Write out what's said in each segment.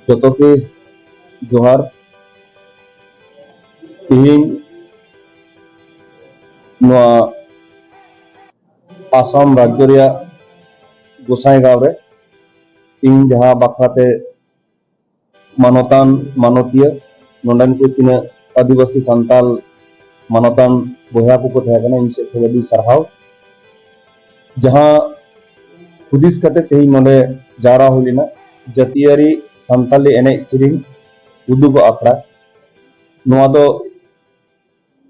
ᱡᱚᱛᱚ ᱜᱮ ᱡᱚᱦᱟᱨ ᱛᱮᱦᱮᱧ ᱱᱚᱣᱟ ᱟᱥᱟᱢ ᱨᱟᱡᱽᱡᱚ ᱨᱮᱭᱟᱜ ᱜᱳᱥᱟᱭᱜᱟᱸᱣ ᱨᱮ ᱤᱧ ᱡᱟᱦᱟᱸ ᱵᱟᱠᱷᱨᱟᱛᱮ ᱢᱟᱱᱚᱛᱟᱱ ᱢᱟᱱᱚᱛᱤᱭᱟᱹ ᱱᱚᱰᱮᱱ ᱠᱚ ᱛᱤᱱᱟᱹᱜ ᱟᱹᱫᱤᱵᱟᱹᱥᱤ ᱥᱟᱱᱛᱟᱞ ᱢᱟᱱᱚᱛᱟᱱ ᱵᱚᱭᱦᱟ ᱠᱚᱠᱚ ᱛᱟᱦᱮᱸ ᱠᱟᱱᱟ ᱤᱧ ᱥᱮᱫ ᱠᱷᱚᱱ ᱟᱹᱰᱤ ᱥᱟᱨᱦᱟᱣ ᱡᱟᱦᱟᱸ ᱦᱩᱫᱤᱥ ᱠᱟᱛᱮ ᱛᱮᱦᱮᱧ ᱱᱚᱰᱮ ᱡᱟᱣᱨᱟ ᱦᱩᱭ ᱞᱮᱱᱟ ᱡᱟᱹᱛᱤᱭᱟᱹᱨᱤ ᱥᱟᱱᱛᱟᱞᱤ ᱮᱱᱮᱡ ᱥᱮᱨᱮᱧ ᱩᱫᱩᱜᱚᱜ ᱟᱠᱷᱲᱟ ᱱᱚᱣᱟ ᱫᱚ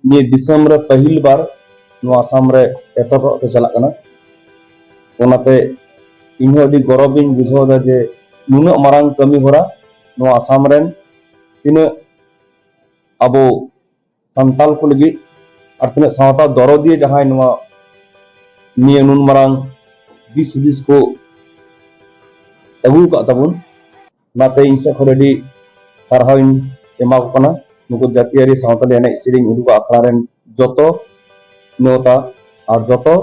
ᱱᱤᱭᱟᱹ ᱫᱤᱥᱚᱢ ᱨᱮ ᱯᱟᱹᱦᱤᱞ ᱵᱟᱨ ᱱᱚᱣᱟ ᱟᱥᱟᱢ ᱨᱮ ᱮᱛᱚᱦᱚᱵ ᱛᱮ ᱪᱟᱞᱟᱜ ᱠᱟᱱᱟ ᱚᱱᱟᱛᱮ ᱤᱧᱦᱚᱸ ᱟᱹᱰᱤ ᱜᱚᱨᱚᱵᱽ ᱤᱧ ᱵᱩᱡᱷᱟᱹᱣ ᱮᱫᱟ ᱡᱮ ᱱᱩᱱᱟᱹᱜ ᱢᱟᱨᱟᱝ ᱠᱟᱹᱢᱤ ᱦᱚᱨᱟ ᱱᱚᱣᱟ ᱟᱥᱟᱢ ᱨᱮᱱ ᱛᱤᱱᱟᱹᱜ ᱟᱵᱚ ᱥᱟᱱᱛᱟᱞ ᱠᱚ ᱞᱟᱹᱜᱤᱫ ᱟᱨ ᱛᱤᱱᱟᱹᱜ ᱥᱟᱶᱛᱟ ᱫᱚᱨᱚᱫᱤᱭᱟᱹ ᱡᱟᱦᱟᱸᱭ ᱱᱚᱣᱟ ᱱᱤᱭᱟᱹ ᱱᱩᱱ ᱢᱟᱨᱟᱝ ᱫᱤᱥ ᱦᱩᱫᱤᱥ ᱠᱚ ᱟᱹᱜᱩ ᱟᱠᱟᱫ ᱛᱟᱵᱚᱱ ᱚᱱᱟᱛᱮ ᱤᱧ ᱥᱮᱫ ᱠᱷᱚᱱ ᱟᱹᱰᱤ ᱥᱟᱨᱦᱟᱣ ᱤᱧ ᱮᱢᱟ ᱠᱚ ᱠᱟᱱᱟ ᱱᱩᱠᱩ ᱡᱟᱹᱛᱤᱭᱟᱹᱨᱤ ᱥᱟᱶᱛᱟᱞᱤ ᱮᱱᱮᱡ ᱥᱮᱨᱮᱧ ᱩᱫᱩᱜ ᱟᱠᱷᱲᱟ ᱨᱮᱱ ᱡᱚᱛᱚ ᱱᱮᱣᱛᱟ ᱟᱨ ᱡᱚᱛᱚ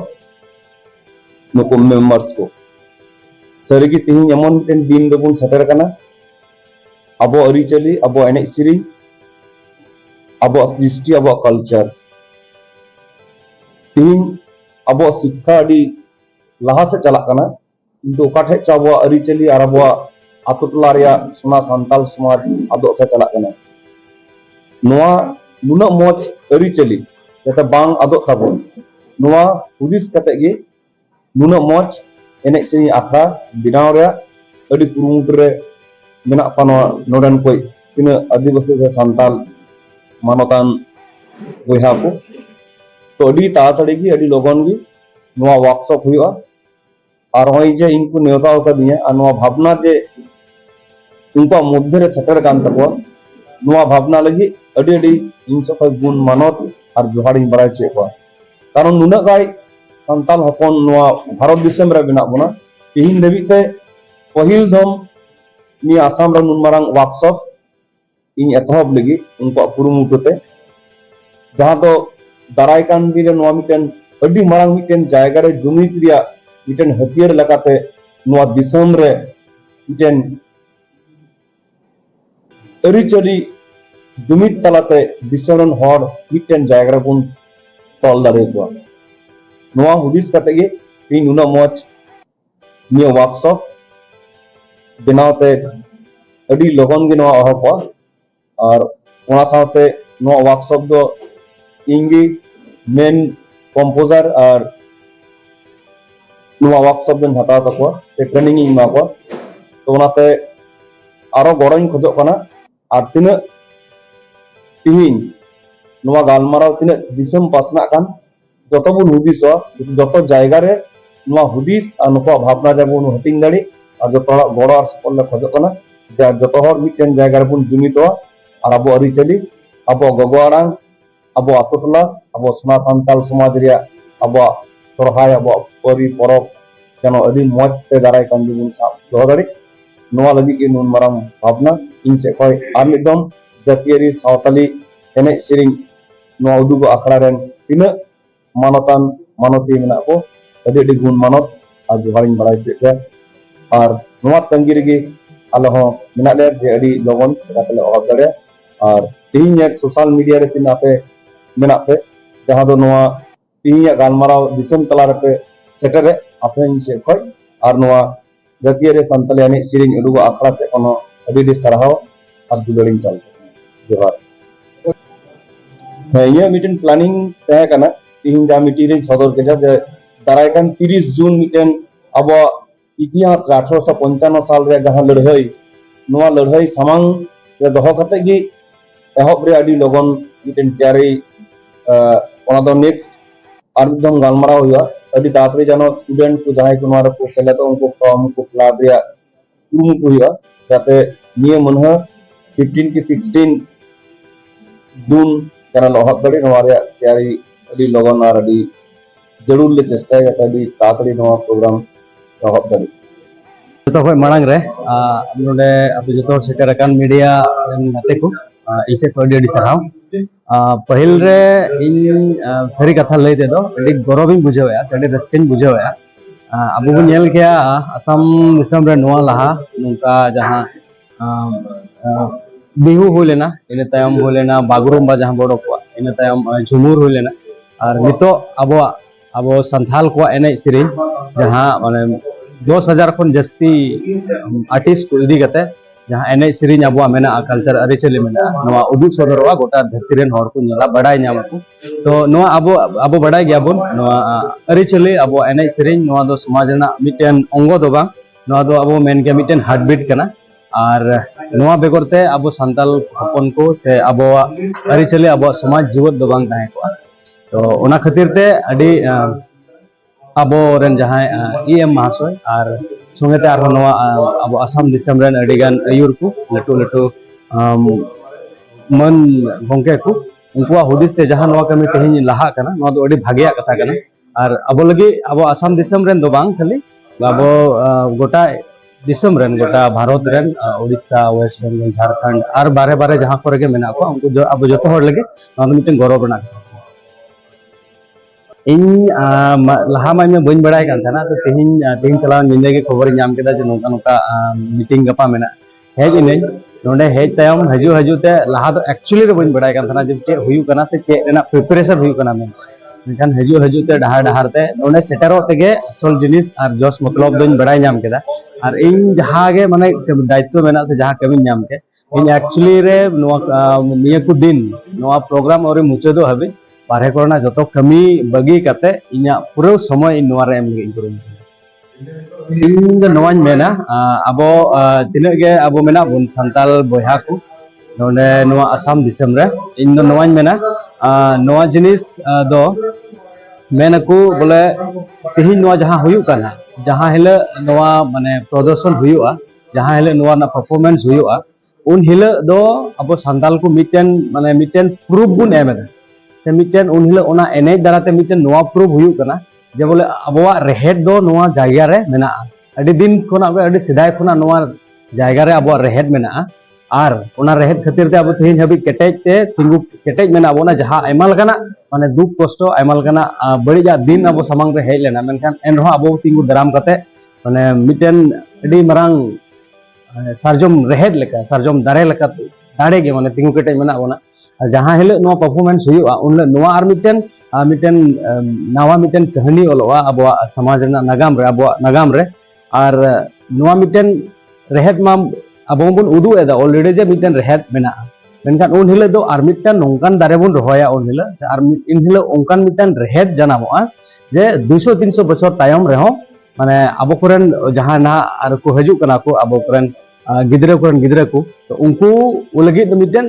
ᱱᱩᱠᱩ ᱢᱮᱢᱵᱟᱨᱥ ᱠᱚ ᱥᱟᱹᱨᱤᱜᱮ ᱛᱮᱦᱮᱧ ᱮᱢᱚᱱ ᱢᱤᱫᱴᱮᱱ ᱫᱤᱱ ᱨᱮᱵᱚᱱ ᱥᱮᱴᱮᱨ ᱟᱠᱟᱱᱟ ᱟᱵᱚᱣᱟᱜ ᱟᱹᱨᱤᱪᱟᱹᱞᱤ ᱟᱵᱚᱣᱟᱜ ᱮᱱᱮᱡ ᱥᱮᱨᱮᱧ ᱟᱵᱚᱣᱟᱜ ᱠᱨᱤᱥᱴᱤ ᱟᱵᱚᱣᱟᱜ ᱠᱟᱞᱪᱟᱨ ᱛᱤᱦᱤᱧ ᱟᱵᱚᱣᱟᱜ ᱥᱤᱠᱠᱷᱟ ᱟᱹᱰᱤ ᱞᱟᱦᱟ ᱥᱮᱫ ᱪᱟᱞᱟᱜ ᱠᱟᱱᱟ ᱠᱤᱱᱛᱩ ᱚᱠᱟ ᱴᱷᱮᱡ ᱪᱚ ᱟᱵᱚᱣᱟᱜ ᱟᱹᱨᱤᱪᱟᱹᱞᱤ ᱟᱨ ᱟᱵᱚᱣᱟᱜ ᱟᱛᱳ ᱴᱚᱞᱟ ᱨᱮᱭᱟᱜ ᱥᱚᱱᱟ ᱥᱟᱱᱛᱟᱞ ᱥᱚᱢᱟᱡᱽ ᱟᱫᱚᱜ ᱥᱮᱫ ᱪᱟᱞᱟᱜ ᱠᱟᱱᱟ ᱱᱚᱣᱟ ᱱᱩᱱᱟᱹᱜ ᱢᱚᱡᱽ ᱟᱹᱨᱤᱪᱟᱹᱞᱤ ᱡᱟᱛᱮ ᱵᱟᱝ ᱟᱫᱚᱜ ᱛᱟᱵᱚᱱ ᱱᱚᱣᱟ ᱦᱩᱫᱤᱥ ᱠᱟᱛᱮ ᱜᱮ ᱱᱩᱱᱟᱹᱜ ᱢᱚᱡᱽ ᱮᱱᱮᱡ ᱥᱮᱨᱮᱧ ᱟᱠᱷᱲᱟ ᱵᱮᱱᱟᱣ ᱨᱮᱭᱟᱜ ᱟᱹᱰᱤ ᱠᱩᱨᱩᱢᱩᱴᱩ ᱨᱮ ᱢᱮᱱᱟᱜ ᱠᱚᱣᱟ ᱱᱚᱣᱟ ᱱᱚᱰᱮᱱ ᱠᱚ ᱛᱤᱱᱟᱹᱜ ᱟᱹᱫᱤᱵᱟᱹᱥᱤ ᱥᱮ ᱥᱟᱱᱛᱟᱞ ᱢᱟᱱᱚᱛᱟᱱ ᱵᱚᱭᱦᱟ ᱠᱚ ᱛᱚ ᱟᱹᱰᱤ ᱛᱟᱲᱟᱛᱟᱲᱤ ᱜᱮ ᱟᱹᱰᱤ ᱞᱚᱜᱚᱱ ᱜᱮ ᱱᱚᱣᱟ ᱣᱟᱨᱠᱥᱚᱯ ᱦᱩᱭᱩᱜᱼᱟ ᱟᱨ ᱱᱚᱜᱼᱚᱭ ᱡᱮ ᱤᱧ ᱠᱚ ᱱᱮᱣᱛᱟ ᱟᱠᱟᱫᱤᱧᱟ ᱟᱨ ᱱᱚᱣᱟ ᱵᱷᱟᱵᱽᱱᱟ ᱡᱮ ᱩᱱᱠᱩᱣᱟᱜ ᱢᱚᱫᱽᱫᱷᱮ ᱨᱮ ᱥᱮᱴᱮᱨ ᱟᱠᱟᱱ ᱛᱟᱠᱚᱣᱟ ᱱᱚᱣᱟ ᱵᱷᱟᱵᱽᱱᱟ ᱞᱟᱹᱜᱤᱫ ᱟᱹᱰᱤ ᱟᱹᱰᱤ ᱤᱧ ᱥᱮᱫ ᱠᱷᱚᱱ ᱜᱩᱱ ᱢᱟᱱᱚᱛ ᱟᱨ ᱡᱚᱦᱟᱨᱤᱧ ᱵᱟᱲᱟᱭ ᱦᱚᱪᱚᱭᱮᱫ ᱠᱚᱣᱟ ᱠᱟᱨᱚᱱ ᱱᱩᱱᱟᱹᱜ ᱜᱟᱭ ᱥᱟᱱᱛᱟᱲ ᱦᱚᱯᱚᱱ ᱱᱚᱣᱟ ᱵᱷᱟᱨᱚᱛ ᱫᱤᱥᱚᱢ ᱨᱮ ᱢᱮᱱᱟᱜ ᱵᱚᱱᱟ ᱛᱮᱦᱮᱧ ᱫᱷᱟᱹᱵᱤᱡ ᱛᱮ ᱯᱟᱹᱦᱤᱞ ᱫᱷᱚᱢ ᱱᱤᱭᱟᱹ ᱟᱥᱟᱢ ᱨᱮ ᱱᱩᱱ ᱢᱟᱨᱟᱝ ᱣᱟᱨᱠᱥᱚᱯ ᱤᱧ ᱮᱛᱚᱦᱚᱵ ᱞᱟᱹᱜᱤᱫ ᱩᱱᱠᱩᱣᱟᱜ ᱠᱩᱨᱩᱢᱩᱴᱩ ᱛᱮ ᱡᱟᱦᱟᱸ ᱫᱚ ᱫᱟᱨᱟᱭ ᱠᱟᱱ ᱫᱤᱱ ᱨᱮ ᱱᱚᱣᱟ ᱢᱤᱫᱴᱮᱱ ᱟᱹᱰᱤ ᱢᱟᱨᱟᱝ ᱢᱤᱫᱴᱮᱱ ᱡᱟᱭᱜᱟ ᱨᱮ ᱡᱩᱢᱤᱫ ᱨᱮᱭᱟᱜ ᱢᱤᱫᱴᱮᱱ ᱦᱟᱹᱛᱭᱟᱹᱨ ᱞᱮᱠᱟᱛᱮ ᱱᱚᱣᱟ ᱫᱤᱥᱚᱢ ᱨᱮ ᱢᱤᱫᱴᱮᱱ ᱟᱹᱨᱤᱪᱟᱹᱞᱤ ᱡᱩᱢᱤᱫ ᱛᱟᱞᱟᱛᱮ ᱫᱤᱥᱚᱢ ᱨᱮᱱ ᱦᱚᱲ ᱢᱤᱫᱴᱮᱱ ᱡᱟᱭᱜᱟ ᱨᱮᱵᱚᱱ ᱛᱚᱞ ᱫᱟᱲᱮ ᱠᱚᱣᱟ ᱱᱚᱣᱟ ᱦᱩᱫᱤᱥ ᱠᱟᱛᱮ ᱜᱮ ᱤᱧ ᱩᱱᱟᱹᱜ ᱢᱚᱡᱽ ᱱᱤᱭᱟᱹ ᱣᱟᱨᱠᱥᱚᱯ ᱵᱮᱱᱟᱣᱛᱮ ᱟᱹᱰᱤ ᱞᱚᱜᱚᱱ ᱜᱮ ᱱᱚᱣᱟ ᱮᱦᱚᱵᱚᱜᱼᱟ ᱟᱨ ᱚᱱᱟ ᱥᱟᱶᱛᱮ ᱱᱚᱣᱟ ᱣᱟᱨᱠᱥᱚᱯ ᱫᱚ ᱤᱧ ᱜᱮ ᱢᱮᱱ ᱠᱚᱢᱯᱳᱡᱟᱨ ᱟᱨ ᱱᱚᱣᱟ ᱣᱟᱨᱠᱥᱚᱯ ᱵᱮᱱ ᱦᱟᱛᱟᱣ ᱛᱟᱠᱚᱣᱟ ᱥᱮ ᱴᱨᱮᱱᱤᱝ ᱤᱧ ᱮᱢᱟ ᱠᱚᱣᱟ ᱛᱚ ᱚᱱᱟᱛᱮ ᱟᱨᱚ ᱜᱚᱲᱚᱧ ᱠᱷᱚᱡᱚᱜ ᱠᱟᱱᱟ ᱟᱨ ᱛᱤᱱᱟᱹᱜ ᱛᱤᱦᱤᱧ ᱱᱚᱣᱟ ᱜᱟᱞᱢᱟᱨᱟᱣ ᱛᱤᱱᱟᱹᱜ ᱫᱤᱥᱚᱢ ᱯᱟᱥᱱᱟᱜ ᱠᱟᱱ ᱡᱚᱛᱚ ᱵᱚᱱ ᱦᱩᱫᱤᱥᱚᱜᱼᱟ ᱡᱚᱛᱚ ᱡᱟᱭᱜᱟ ᱨᱮ ᱱᱚᱣᱟ ᱦᱩᱫᱤᱥ ᱟᱨ ᱱᱩᱠᱩᱣᱟᱜ ᱵᱷᱟᱵᱽᱱᱟ ᱡᱟᱵᱚ ᱵᱚᱱ ᱦᱟᱹᱴᱤᱧ ᱫᱟᱲᱮᱜ ᱟᱨ ᱡᱚᱛᱚ ᱦᱚᱲᱟᱜ ᱜᱚᱲᱚ ᱟᱨ ᱥᱚᱯᱚᱦᱚᱫ ᱞᱮ ᱠᱷᱚᱡᱚᱜ ᱠᱟᱱᱟ ᱡᱟ ᱡᱚᱛᱚ ᱦᱚᱲ ᱢᱤᱫᱴᱮᱱ ᱡᱟᱭᱜᱟ ᱨᱮᱵᱚᱱ ᱡᱩᱢᱤᱫᱚᱜᱼᱟ ᱟᱨ ᱟᱵᱚ ᱟᱹᱨᱤᱪᱟᱹᱞᱤ ᱟᱵᱚ ᱜᱚᱜᱚ ᱟᱲᱟᱝ ᱟᱵᱚ ᱟᱛᱳ ᱴᱚᱞᱟ ᱟᱵᱚ ᱥᱚᱱᱟ ᱥᱟᱱᱛᱟᱞ ᱥᱚᱢᱟᱡᱽ ᱨᱮᱭᱟᱜ ᱟᱵᱚᱣᱟᱜ ᱥᱚᱨᱦᱟᱭ ᱟᱵᱚᱣᱟᱜ ᱯᱟᱹᱨᱤ ᱯᱚᱨᱚᱵᱽ ᱡᱮᱱᱚ ᱟᱹᱰᱤ ᱢᱚᱡᱽ ᱛᱮ ᱫᱟᱨᱟᱭ ᱠᱟᱱ ᱫᱤᱱ ᱵᱚᱱ ᱥᱟᱵ ᱫᱚᱦᱚ ᱫᱟᱲᱮᱜ ᱱᱚᱣᱟ ᱞᱟᱹᱜᱤᱫ ᱜᱮ ᱱᱩᱱ ᱢᱟᱨᱟᱝ ᱵᱷᱟᱵᱽᱱᱟ ᱤᱧ ᱥᱮᱫ ᱠᱷᱚᱱ ᱟᱨ ᱢᱤᱫ ᱫᱚᱢ ᱡᱟᱹᱛᱤᱭᱟᱹᱨᱤ ᱥᱟᱶᱛᱟᱞᱤ ᱮᱱᱮᱡ ᱥᱮᱨᱮᱧ ᱱᱚᱣᱟ ᱩᱫᱩᱜᱚᱜ ᱟᱠᱷᱲᱟ ᱨᱮᱱ ᱛᱤᱱᱟᱹᱜ ᱢᱟᱱᱚᱛᱟᱱ ᱢᱟᱱᱚᱛᱤᱭᱟᱹ ᱢᱮᱱᱟᱜ ᱠᱚ ᱟᱹᱰᱤ ᱟᱹᱰᱤ ᱜᱩᱱ ᱢᱟᱱᱚᱛ ᱟᱨ ᱡᱚᱦᱟᱨᱤᱧ ᱵᱟᱲᱟᱭ ᱦᱚᱪᱚᱭᱮᱫ ᱠᱚᱣᱟ ᱟᱨ ᱱᱚᱣᱟ ᱛᱟᱺᱜᱤ ᱨᱮᱜᱮ ᱟᱞᱮ ᱦᱚᱸ ᱢᱮᱱᱟᱜ ᱞᱮᱭᱟ ᱡᱮ ᱟᱹᱰᱤ ᱞᱚᱜᱚᱱ ᱪᱮᱠᱟᱛᱮᱞᱮ ᱚᱦᱚᱵ ᱫᱟᱲᱮᱭᱟᱜᱼᱟ ᱟᱨ ᱛᱮᱦᱮᱧ ᱮᱠ ᱥᱳᱥᱟᱞ ᱢᱤᱰᱤᱭᱟ ᱨᱮ ᱛᱤᱱᱟᱹᱜ ᱟᱯᱮ ᱢᱮᱱᱟᱜ ᱯᱮ ᱡᱟᱦᱟᱸ ᱫᱚ ᱱᱚᱣᱟ ᱛᱮᱦᱮᱧᱟᱜ ᱜᱟᱞᱢᱟᱨᱟᱣ ᱫᱤᱥᱚᱢ ᱛᱟᱞᱟ ᱨᱮᱯᱮ ᱥᱮᱴᱮᱨᱮᱫ ᱟᱯᱮ ᱥᱮᱫ ᱠᱷᱚᱱ ᱟᱨ ᱱᱚᱣᱟ ᱡᱟᱹᱛᱤᱭᱟᱹᱨᱤ ᱥᱟᱱᱛᱟᱞᱤ ᱮᱱᱮᱡ ᱥᱮᱨᱮᱧ ᱩᱰᱩᱠᱚᱜ ᱟᱠᱷᱲᱟ ᱥᱮᱫ ᱠᱷᱚᱱ ᱦᱚᱸ ᱟᱹᱰᱤ ᱟᱹᱰᱤ ᱥᱟᱨᱦᱟᱣ ᱟᱨ ᱫᱩᱞᱟᱹᱲᱤᱧ ᱪᱟᱞ ᱡᱚᱦᱟᱨ ᱦᱮᱸ ᱤᱧᱟᱹᱜ ᱢᱤᱫᱴᱮᱱ ᱯᱞᱟᱱᱤᱝ ᱛᱟᱦᱮᱸ ᱠᱟᱱᱟ ᱛᱤᱦᱤᱧ ᱡᱟᱦᱟᱸ ᱢᱤᱴᱤᱝ ᱨᱤᱧ ᱥᱚᱫᱚᱨ ᱠᱮᱫᱟ ᱡᱮ ᱫᱟᱨᱟᱭ ᱠᱟᱱ ᱛᱤᱨᱤᱥ ᱡᱩᱱ ᱢᱤᱫᱴᱮᱱ ᱟᱵᱚᱣᱟᱜ ᱤᱛᱤᱦᱟᱥ ᱨᱮ ᱟᱴᱷᱨᱚᱥᱚ ᱯᱚᱧᱪᱟᱱᱱᱚ ᱥᱟᱞ ᱨᱮ ᱡᱟᱦᱟᱸ ᱞᱟᱹᱲᱦᱟᱹᱭ ᱱᱚᱣᱟ ᱞᱟᱹᱲᱦᱟᱹᱭ ᱥᱟᱢᱟᱝ ᱨᱮ ᱫᱚᱦᱚ ᱠᱟᱛᱮ ᱜᱮ ᱮᱦᱚᱵ ᱨᱮ ᱟᱹᱰᱤ ᱞᱚᱜᱚᱱ ᱢᱤᱫᱴᱮᱱ ᱛᱮᱭᱟᱨᱤ ᱚᱱᱟ ᱫᱚ ᱱᱮᱠᱥᱴ ᱟᱨ ᱢᱤᱫ ᱫᱚᱢ ᱜᱟᱞᱢᱟᱨᱟᱣ ᱦᱩᱭᱩᱜᱼᱟ ᱟᱹᱰᱤ ᱛᱟᱲᱟᱛᱟᱲᱤ ᱡᱮᱱᱚ ᱥᱴᱩᱰᱮᱱᱴ ᱠᱚ ᱡᱟᱦᱟᱸᱭ ᱠᱚ ᱱᱚᱣᱟ ᱨᱮᱠᱚ ᱥᱮᱞᱮᱫᱚᱜ ᱩᱱᱠᱩ ᱯᱷᱚᱨᱢ ᱠᱚ ᱯᱷᱤᱞᱟᱯ ᱨᱮᱭᱟᱜ ᱠᱩᱨᱩᱢᱩᱴᱩ ᱦᱩᱭᱩᱜᱼᱟ ᱡᱟᱛᱮ ᱱᱤᱭᱟᱹ ᱢᱟᱹᱱᱦᱟᱹ ᱯᱷᱤᱯᱴᱤᱱ ᱠᱤ ᱥᱤᱠᱥᱴᱤᱱ ᱡᱩᱱ ᱡᱮᱱᱚ ᱞᱚᱦᱚᱫ ᱫᱟᱲᱮ ᱱᱚᱣᱟ ᱨᱮᱭᱟᱜ ᱛᱮᱭᱟᱨᱤ ᱟᱹᱰᱤ ᱞᱚᱜᱚᱱ ᱟᱨ ᱟᱹᱰᱤ ᱡᱟᱹᱨᱩᱲ ᱞᱮ ᱪᱮᱥᱴᱟᱭᱟ ᱟᱹᱰᱤ ᱛᱟᱲᱟᱛᱟᱲᱤ ᱱᱚᱣᱟ ᱯᱨᱳᱜᱨᱟᱢ ᱮᱦᱚᱵ ᱫᱟᱲᱮᱜ ᱡᱚᱛᱚ ᱠᱷᱚᱱ ᱢᱟᱲᱟᱝ ᱨᱮ ᱱᱚᱰᱮ ᱟᱯᱮ ᱡᱚᱛᱚ ᱦᱚᱲ ᱥᱮᱴᱮᱨ ᱟᱠᱟᱱ ᱢᱤᱰᱤᱭᱟ ᱨᱮᱱ ᱜᱟᱛᱮ ᱠᱚ ᱤᱧ ᱥᱮᱫ ᱠᱷᱚᱱ ᱟᱹᱰᱤ ᱟᱹᱰᱤ ᱥᱟᱨᱦᱟᱣ ᱯᱟᱹᱦᱤᱞ ᱨᱮ ᱤᱧ ᱥᱟᱹᱨᱤ ᱠᱟᱛᱷᱟ ᱞᱟᱹᱭ ᱛᱮᱫᱚ ᱟᱹᱰᱤ ᱜᱚᱨᱚᱵᱤᱧ ᱵᱩᱡᱷᱟᱹᱣᱮᱫᱼᱟ ᱥᱮ ᱟᱹᱰᱤ ᱨᱟᱹᱥᱠᱟᱹᱧ ᱵᱩᱡᱷᱟᱹᱣᱮᱫᱼᱟ ᱟᱵᱚ ᱵᱚᱱ ᱧᱮᱞ ᱠᱮᱭᱟ ᱟᱥᱟᱢ ᱫᱤᱥᱚᱢ ᱨᱮ ᱱᱚᱣᱟ ᱞᱟᱦᱟ ᱱᱚᱝᱠᱟ ᱡᱟᱦᱟᱸ ᱵᱤᱦᱩ ᱦᱩᱭ ᱞᱮᱱᱟ ᱤᱱᱟᱹ ᱛᱟᱭᱚᱢ ᱦᱩᱭ ᱞᱮᱱᱟ ᱵᱟᱜᱽᱨᱩᱢᱵᱟ ᱡᱟᱦᱟᱸ ᱵᱚᱲᱚ ᱠᱚᱣᱟᱜ ᱤᱱᱟᱹ ᱛᱟᱭᱚᱢ ᱡᱷᱩᱢᱩᱨ ᱦᱩᱭ ᱞᱮᱱᱟ ᱟᱨ ᱱᱤᱛᱚᱜ ᱟᱵᱚᱣᱟᱜ ᱟᱵᱚ ᱥᱟᱱᱛᱷᱟᱞ ᱠᱚᱣᱟᱜ ᱮᱱᱮᱡ ᱥᱮᱨᱮᱧ ᱡᱟᱦᱟᱸ ᱢᱟᱱᱮ ᱫᱚᱥ ᱦᱟᱡᱟᱨ ᱠᱷᱚᱱ ᱡᱟᱹᱥᱛᱤ ᱟᱨᱴᱤᱥᱴ ᱠᱚ ᱤᱫᱤ ᱠᱟᱛᱮ ᱡᱟᱦᱟᱸ ᱮᱱᱮᱡ ᱥᱮᱨᱮᱧ ᱟᱵᱚᱣᱟᱜ ᱢᱮᱱᱟᱜᱼᱟ ᱠᱟᱞᱪᱟᱨ ᱟᱹᱨᱤᱪᱟᱹᱞᱤ ᱢᱮᱱᱟᱜᱼᱟ ᱱᱚᱣᱟ ᱩᱫᱩᱜ ᱥᱚᱫᱚᱨᱚᱜᱼᱟ ᱜᱚᱴᱟ ᱫᱷᱟᱹᱨᱛᱤ ᱨᱮᱱ ᱦᱚᱲ ᱠᱚ ᱧᱮᱞᱟ ᱵᱟᱰᱟᱭ ᱧᱟᱢᱟ ᱠᱚ ᱛᱚ ᱱᱚᱣᱟ ᱟᱵᱚ ᱟᱵᱚ ᱵᱟᱰᱟᱭ ᱜᱮᱭᱟᱵᱚᱱ ᱱᱚᱣᱟ ᱟᱹᱨᱤᱪᱟᱹᱞᱤ ᱟᱵᱚᱣᱟᱜ ᱮᱱᱮᱡ ᱥᱮᱨᱮᱧ ᱱᱚᱣᱟ ᱫᱚ ᱥᱚᱢᱟᱡᱽ ᱨᱮᱱᱟᱜ ᱢᱤᱫᱴᱮᱱ ᱚᱝᱜᱚ ᱫᱚ ᱵᱟᱝ ᱱᱚᱣᱟ ᱫᱚ ᱟᱵᱚ ᱢᱮᱱ ᱜᱮᱭᱟ ᱢᱤᱫᱴᱮᱱ ᱦᱟᱨᱴᱵᱤᱴ ᱠᱟᱱᱟ ᱟᱨ ᱱᱚᱣᱟ ᱵᱮᱜᱚᱨ ᱛᱮ ᱟᱵᱚ ᱥᱟᱱᱛᱟᱞ ᱦᱚᱯᱚᱱ ᱠᱚ ᱥᱮ ᱟᱵᱚᱣᱟᱜ ᱟᱹᱨᱤᱪᱟᱹᱞᱤ ᱟᱵᱚᱣᱟᱜ ᱥᱚᱢᱟᱡᱽ ᱡᱤᱣᱮᱫ ᱫᱚ ᱵᱟᱝ ᱛᱟᱦᱮᱸ ᱠᱚᱜᱼᱟ ᱛᱚ ᱚᱱᱟ ᱠᱷᱟᱹᱛᱤᱨ ᱛᱮ ᱟᱹᱰᱤ ᱟᱵᱚ ᱨᱮᱱ ᱡᱟᱦᱟᱸᱭ ᱤ ᱮᱢ ᱢᱟᱦᱟᱥᱚᱭ ᱟᱨ ᱥᱚᱸᱜᱮ ᱛᱮ ᱟᱨᱦᱚᱸ ᱱᱚᱣᱟ ᱟᱵᱚ ᱟᱥᱟᱢ ᱫᱤᱥᱚᱢ ᱨᱮᱱ ᱟᱹᱰᱤ ᱜᱟᱱ ᱟᱹᱭᱩᱨ ᱠᱚ ᱞᱟᱹᱴᱩ ᱞᱟᱹᱴᱩ ᱢᱟᱹᱱ ᱜᱚᱢᱠᱮ ᱠᱚ ᱩᱱᱠᱩᱣᱟᱜ ᱦᱩᱫᱤᱥ ᱛᱮ ᱡᱟᱦᱟᱸ ᱱᱚᱣᱟ ᱠᱟᱹᱢᱤ ᱛᱮᱦᱮᱧ ᱞᱟᱦᱟᱜ ᱠᱟᱱᱟ ᱱᱚᱣᱟ ᱫᱚ ᱟᱹᱰᱤ ᱵᱷᱟᱜᱮᱭᱟᱜ ᱠᱟᱛᱷᱟ ᱠᱟᱱᱟ ᱟᱨ ᱟᱵᱚ ᱞᱟᱹᱜᱤᱫ ᱟᱵᱚ ᱟᱥᱟᱢ ᱫᱤᱥᱚᱢ ᱨᱮᱱ ᱫᱚ ᱵᱟᱝ ᱠᱷᱟᱹᱞᱤ ᱟᱵᱚ ᱜᱚᱴᱟ ᱫᱤᱥᱚᱢ ᱨᱮᱱ ᱜᱚᱴᱟ ᱵᱷᱟᱨᱚᱛ ᱨᱮᱱ ᱳᱰᱤᱥᱟ ᱳᱭᱮᱥᱴ ᱵᱮᱝᱜᱚᱞ ᱡᱷᱟᱲᱠᱷᱚᱸᱰ ᱟᱨ ᱵᱟᱨᱦᱮ ᱵᱟᱨᱦᱮ ᱡᱟᱦᱟᱸ ᱠᱚᱨᱮ ᱜᱮ ᱢᱮᱱᱟᱜ ᱠᱚᱣᱟ ᱩᱱᱠᱩ ᱟᱵᱚ ᱡᱚᱛᱚ ᱦᱚᱲ ᱞᱟᱹᱜᱤᱫ ᱱᱚᱣᱟ ᱫᱚ ᱢᱤᱫᱴᱮᱱ ᱜᱚᱨᱚᱵᱽ ᱨᱮᱱᱟᱜ ᱠᱟᱛᱷᱟ ᱤᱧ ᱞᱟᱦᱟ ᱢᱟ ᱤᱧ ᱵᱟᱹᱧ ᱵᱟᱲᱟᱭ ᱠᱟᱱ ᱛᱟᱦᱮᱱᱟ ᱛᱚ ᱛᱮᱦᱮᱧ ᱛᱮᱦᱮᱧ ᱪᱟᱞᱟᱣ ᱧᱤᱫᱟᱹ ᱜᱮ ᱠᱷᱚᱵᱚᱨᱤᱧ ᱧᱟᱢ ᱠᱮᱫᱟ ᱡᱮ ᱱᱚᱝᱠᱟ ᱱᱚᱝᱠᱟ ᱢᱤᱴᱤᱝ ᱜᱟᱯᱟ ᱢᱮᱱᱟᱜᱼᱟ ᱦᱮᱡ ᱤᱱᱟᱹᱧ ᱱᱚᱰᱮ ᱦᱮᱡ ᱛᱟᱭᱚᱢ ᱦᱤᱡᱩᱜ ᱦᱤᱡᱩᱜ ᱛᱮ ᱞᱟᱦᱟ ᱫᱚ ᱮᱠᱪᱩᱭᱮᱞᱤ ᱨᱮ ᱵᱟᱹᱧ ᱵᱟᱲᱟᱭ ᱠᱟᱱ ᱛᱟᱦᱮᱱᱟ ᱡᱮ ᱪᱮᱫ ᱦᱩᱭᱩᱜ ᱠᱟᱱᱟ ᱥᱮ ᱪᱮᱫ ᱨᱮᱱᱟᱜ ᱯᱨᱤᱯᱟᱨᱮᱥᱚᱱ ᱦᱩᱭᱩᱜ ᱠᱟᱱᱟ ᱢᱮᱱᱛᱮ ᱢᱮᱱᱠᱷᱟᱱ ᱦᱤᱡᱩᱜ ᱦᱤᱡᱩᱜ ᱛᱮ ᱰᱟᱦᱟᱨ ᱰᱟᱦᱟᱨ ᱛᱮ ᱱᱚᱰᱮ ᱥᱮᱴᱮᱨᱚᱜ ᱛᱮᱜᱮ ᱟᱥᱚᱞ ᱡᱤᱱᱤᱥ ᱟᱨ ᱡᱚᱥ ᱢᱚᱛᱞᱚᱵ ᱫᱚᱧ ᱵᱟᱲᱟᱭ ᱧᱟᱢ ᱠᱮᱫᱟ ᱟᱨ ᱤᱧ ᱡᱟᱦᱟᱸ ᱜᱮ ᱢᱟᱱᱮ ᱫᱟᱭᱤᱛᱛᱚ ᱢᱮᱱᱟᱜ ᱥᱮ ᱡᱟᱦᱟᱸ ᱠᱟᱹᱢᱤᱧ ᱧᱟᱢ ᱠᱮᱫ ᱤᱧ ᱮᱠᱪᱩᱭᱮᱞᱤ ᱨᱮ ᱱᱚᱣᱟ ᱱᱤᱭᱟᱹ ᱠᱚ ᱫᱤᱱ ᱱᱚᱣᱟ ᱯᱨᱳᱜᱨᱟᱢ ᱟᱹᱣᱨᱤ ᱢᱩᱪᱟᱹᱫᱚᱜ ᱦᱟᱹᱵᱤᱡ ᱵᱟᱨᱦᱮ ᱠᱚᱨᱮᱱᱟᱜ ᱡᱚᱛᱚ ᱠᱟᱹᱢᱤ ᱵᱟᱹᱜᱤ ᱠᱟᱛᱮ ᱤᱧᱟᱹᱜ ᱯᱩᱨᱟᱹ ᱥᱚᱢᱚᱭ ᱤᱧ ᱱᱚᱣᱟ ᱨᱮ ᱮᱢ ᱞᱟᱹᱜᱤᱫ ᱤᱧ ᱠᱩᱨᱩᱢᱩᱴᱩ ᱤᱧ ᱫᱚ ᱱᱚᱣᱟᱧ ᱢᱮᱱᱟ ᱟᱵᱚ ᱛᱤᱱᱟᱹᱜ ᱜᱮ ᱟᱵᱚ ᱢᱮᱱᱟᱜ ᱵᱚᱱ ᱥᱟᱱᱛᱟᱲ ᱵᱚᱭᱦᱟ ᱠᱚ ᱱᱚᱰᱮ ᱱᱚᱣᱟ ᱟᱥᱟᱢ ᱫᱤᱥᱚᱢ ᱨᱮ ᱤᱧ ᱫᱚ ᱱᱚᱣᱟᱧ ᱢᱮᱱᱟ ᱱᱚᱣᱟ ᱡᱤᱱᱤᱥ ᱫᱚ ᱢᱮᱱᱟᱠᱚ ᱵᱚᱞᱮ ᱛᱮᱦᱮᱧ ᱱᱚᱣᱟ ᱡᱟᱦᱟᱸ ᱦᱩᱭᱩᱜ ᱠᱟᱱᱟ ᱡᱟᱦᱟᱸ ᱦᱤᱞᱳᱜ ᱱᱚᱣᱟ ᱢᱟᱱᱮ ᱯᱨᱚᱫᱚᱨᱥᱚᱱ ᱦᱩᱭᱩᱜᱼᱟ ᱡᱟᱦᱟᱸ ᱦᱤᱞᱳᱜ ᱱᱚᱣᱟ ᱨᱮᱱᱟᱜ ᱯᱟᱨᱯᱷᱚᱨᱢᱮᱱᱥ ᱦᱩᱭᱩᱜᱼᱟ ᱩᱱ ᱦᱤᱞᱳᱜ ᱫᱚ ᱟᱵᱚ ᱥᱟᱱᱛᱟᱞ ᱠᱚ ᱢᱤᱫᱴᱮᱱ ᱢᱟᱱᱮ ᱢᱤᱫᱴᱮᱱ ᱯᱨᱩᱯ ᱵᱚᱱ ᱮᱢ ᱮᱫᱟ ᱥᱮ ᱢᱤᱫᱴᱮᱱ ᱩᱱ ᱦᱤᱞᱳᱜ ᱚᱱᱟ ᱮᱱᱮᱡ ᱫᱟᱨᱟᱛᱮ ᱢᱤᱫᱴᱮᱱ ᱱᱚᱣᱟ ᱯᱨᱩᱯ ᱦᱩᱭᱩᱜ ᱠᱟᱱᱟ ᱡᱮ ᱵᱚᱞᱮ ᱟᱵᱚᱣᱟᱜ ᱨᱮᱦᱮᱫ ᱫᱚ ᱱᱚᱣᱟ ᱡᱟᱭᱜᱟ ᱨᱮ ᱢᱮᱱᱟᱜᱼᱟ ᱟᱹᱰᱤ ᱫᱤᱱ ᱠᱷᱚᱱᱟᱜ ᱜᱮ ᱟᱹᱰᱤ ᱥᱮᱫᱟᱭ ᱠᱷᱚᱱᱟᱜ ᱱᱚᱣᱟ ᱡᱟᱭᱜᱟ ᱨᱮ ᱟᱵᱚᱣᱟᱜ ᱨᱮᱦᱮᱫ ᱢᱮᱱᱟᱜᱼᱟ ᱟᱨ ᱚᱱᱟ ᱨᱮᱦᱮᱫ ᱠᱷᱟᱹᱛᱤᱨ ᱛᱮ ᱟᱵᱚ ᱛᱮᱦᱮᱧ ᱦᱟᱹᱵᱤᱡ ᱠᱮᱴᱮᱡ ᱛᱮ ᱛᱤᱸᱜᱩ ᱠᱮᱴᱮᱡ ᱢᱮᱱᱟᱜ ᱵᱚᱱᱟ ᱡᱟᱦᱟᱸ ᱟᱭᱢᱟ ᱞᱮᱠᱟᱱᱟᱜ ᱢᱟᱱᱮ ᱫᱩᱠ ᱠᱚᱥᱴᱚ ᱟᱭᱢᱟ ᱞᱮᱠᱟᱱᱟᱜ ᱵᱟᱹᱲᱤᱡᱟᱜ ᱫᱤᱱ ᱟᱵᱚ ᱥᱟᱢᱟᱝ ᱨᱮ ᱦᱮᱡ ᱞᱮᱱᱟ ᱢᱮᱱᱠᱷᱟᱱ ᱮᱱᱨᱮᱦᱚᱸ ᱟᱵᱚ ᱛᱤᱸᱜᱩ ᱫᱟᱨᱟᱢ ᱠᱟᱛᱮ ᱢᱟᱱᱮ ᱢᱤᱫᱴᱮᱱ ᱟᱹᱰᱤ ᱢᱟᱨᱟᱝ ᱥᱟᱨᱡᱚᱢ ᱨᱮᱦᱮᱫ ᱞᱮᱠᱟ ᱥᱟᱨᱡᱚᱢ ᱫᱟᱨᱮ ᱞᱮᱠᱟ ᱫᱟᱲᱮ ᱜᱮ ᱢᱟᱱᱮ ᱛᱤᱸᱜᱩ ᱠᱮᱴᱮᱡ ᱢᱮᱱᱟᱜ ᱵᱚᱱᱟ ᱟᱨ ᱡᱟᱦᱟᱸ ᱦᱤᱞᱳᱜ ᱱᱚᱣᱟ ᱯᱟᱨᱯᱷᱚᱨᱢᱮᱱᱥ ᱦᱩᱭᱩᱜᱼᱟ ᱩᱱ ᱦᱤᱞᱳᱜ ᱱᱚᱣᱟ ᱟᱨ ᱢᱤᱫᱴᱮᱱ ᱢᱤᱫᱴᱮᱱ ᱱᱟᱣᱟ ᱢᱤᱫᱴᱮᱱ ᱠᱟᱹᱦᱱᱤ ᱚᱞᱚᱜᱼᱟ ᱟᱵᱚᱣᱟᱜ ᱥᱚᱢᱟᱡᱽ ᱨᱮᱱᱟᱜ ᱱᱟᱜᱟᱢ ᱨᱮ ᱟᱵᱚᱣᱟᱜ ᱱᱟᱜᱟᱢ ᱨᱮ ᱟᱨ ᱱᱚᱣᱟ ᱢᱤᱫᱴᱮᱱ ᱨᱮᱦᱮᱫ ᱢᱟ ᱟᱵᱚ ᱵᱚᱱ ᱩᱫᱩᱜ ᱮᱫᱟ ᱚᱞᱨᱮᱰᱤ ᱡᱮ ᱢᱤᱫᱴᱮᱱ ᱨᱮᱦᱮᱫ ᱢᱮᱱᱟᱜᱼᱟ ᱢᱮᱱᱠᱷᱟᱱ ᱩᱱ ᱦᱤᱞᱳᱜ ᱫᱚ ᱟᱨ ᱢᱤᱫᱴᱟᱝ ᱱᱚᱝᱠᱟᱱ ᱫᱟᱨᱮ ᱵᱚᱱ ᱨᱚᱦᱚᱭᱟ ᱩᱱ ᱦᱤᱞᱳᱜ ᱟᱨ ᱢᱤᱫ ᱦᱤᱞᱳᱜ ᱚᱱᱠᱟᱱ ᱢᱤᱫᱴᱟᱝ ᱨᱮᱦᱮᱫ ᱡᱟᱱᱟᱢᱚᱜᱼᱟ ᱡᱮ ᱫᱩᱥᱚ ᱛᱤᱱᱥᱚ ᱵᱚᱪᱷᱚᱨ ᱛᱟᱭᱚᱢ ᱨᱮᱦᱚᱸ ᱢᱟᱱᱮ ᱟᱵᱚ ᱠᱚᱨᱮᱱ ᱡᱟᱦᱟᱸ ᱱᱟᱦᱟᱜ ᱟᱨ ᱠᱚ ᱦᱤᱡᱩᱜ ᱠᱟᱱᱟ ᱠᱚ ᱟᱵᱚ ᱠᱚᱨᱮᱱ ᱜᱤᱫᱽᱨᱟᱹ ᱠᱚᱨᱮᱱ ᱜᱤᱫᱽᱨᱟᱹ ᱠᱚ ᱛᱚ ᱩᱱᱠᱩ ᱞᱟᱹᱜᱤᱫ ᱫᱚ ᱢᱤᱫᱴᱮᱱ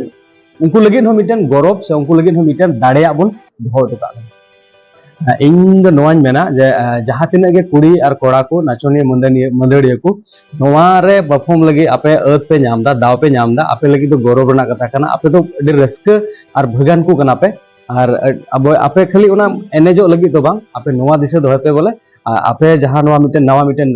ᱩᱱᱠᱩ ᱞᱟᱹᱜᱤᱫ ᱦᱚᱸ ᱢᱤᱫᱴᱮᱱ ᱜᱚᱨᱚᱵ ᱥᱮ ᱩᱱᱠᱩ ᱞᱟᱹᱜᱤᱫ ᱦᱚᱸ ᱢᱤᱫᱴᱮᱱ ᱫᱟᱲᱮᱭᱟᱜ ᱵᱚᱱ ᱫᱚᱦᱚ ᱦᱚᱴᱚ ᱠᱟᱜ ᱠᱟᱱᱟ ᱤᱧ ᱫᱚ ᱱᱚᱣᱟᱧ ᱢᱮᱱᱟ ᱡᱮ ᱡᱟᱦᱟᱸ ᱛᱤᱱᱟᱹᱜ ᱜᱮ ᱠᱩᱲᱤ ᱟᱨ ᱠᱚᱲᱟ ᱠᱚ ᱱᱟᱪᱚᱱᱤᱭᱟᱹ ᱢᱟᱹᱫᱟᱹᱱᱤᱭᱟᱹ ᱢᱟᱹᱫᱟᱹᱲᱤᱭᱟᱹ ᱠᱚ ᱱᱚᱣᱟ ᱨᱮ ᱯᱟᱨᱯᱷᱚᱨᱢ ᱞᱟᱹᱜᱤᱫ ᱟᱯᱮ ᱟᱹᱫ ᱯᱮ ᱧᱟᱢ ᱮᱫᱟ ᱫᱟᱣ ᱯᱮ ᱧᱟᱢ ᱮᱫᱟ ᱟᱯᱮ ᱞᱟᱹᱜᱤᱫ ᱫᱚ ᱜᱚᱨᱚᱵ ᱨᱮᱱᱟᱜ ᱠᱟᱛᱷᱟ ᱠᱟᱱᱟ ᱟᱯᱮ ᱫᱚ ᱟᱹᱰᱤ ᱨᱟᱹᱥᱠᱟᱹ ᱟᱨ ᱵᱷᱟᱹᱜᱟᱱ ᱠᱚ ᱠᱟᱱᱟ ᱯᱮ ᱟᱨ ᱟᱵᱚ ᱟᱯᱮ ᱠᱷᱟᱹᱞᱤ ᱚᱱᱟ ᱮᱱᱮᱡᱚᱜ ᱞᱟᱹᱜᱤᱫ ᱫᱚ ᱵᱟᱝ ᱟᱯᱮ ᱱᱚᱣᱟ ᱫᱤᱥᱟᱹ ᱫᱚᱦᱚᱭ ᱯᱮ ᱵᱚᱞᱮ ᱟᱯᱮ ᱡᱟᱦᱟᱸ ᱱᱚᱣᱟ ᱢᱤᱫᱴᱮᱱ ᱱᱟᱣᱟ ᱢᱤᱫᱴᱮᱱ